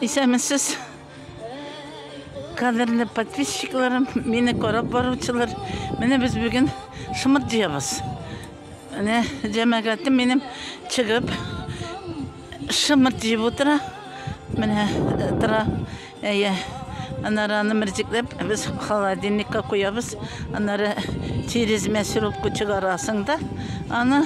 Исәнмесез, кадерле подписчикларым, мине карап баручылар. Менә без бүген шымыр җыябыз. Менә җәмәгатем минем чыгып шымыр җыеп утыра. Менә э, тора. Әйе. Аннары аны мөрҗикләп без холодильникка куябыз. Аннары тирезмә сиропка чыгарасың да, аны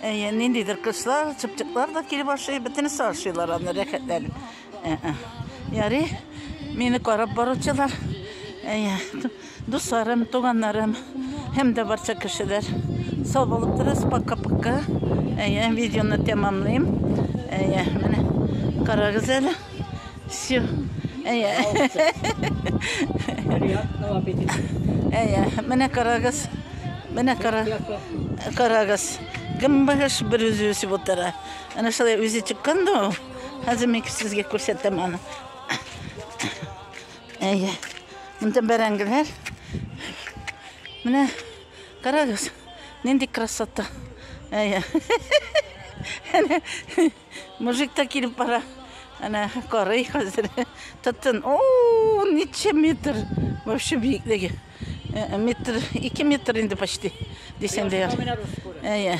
Әйе, ниндидер кышлар, чыпчыклар да килеп ашый, бөтенесе ашыйлар аны рәхәтләнеп. Э, э. Яри, мине карап баручылар, әйе, дусларым, туганнарым, һәм дә барча кешеләр. Сау булып торыгыз, пока-пока. Әйе, видеоны тәмамлыйм. Әйе, менә карагыз әле. Все. Әйе. Приятного аппетита. Әйе. Менә карагыз. Менә кара. Карагыз. Гымбаш бер үзе үсеп утыра. Әнә шулай үзе чыккан да ул. Хәзер мин сезгә күрсәтәм аны. Әйе. Монда бәрәңгеләр. Менә карагыз. Нинди красота. Әйе. Мужик та килеп бара. Әнә карый хәзер. Тотын. О, ничә метр. Вообще биеклеге. Э, метр, 2 метр инде почти. Дисәң дә яр. Әйе.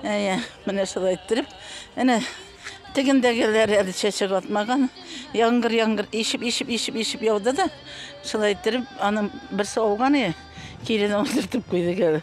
Әйе. Менә шулай иттереп. Әнә тегендәгеләр әле чәчәк атмаган. Яңгыр, яңгыр ишеп, ишеп, ишеп, ишеп яуды да. Шулай иттереп, аның берсе ауган е. Килене ултыртып куйды гәле.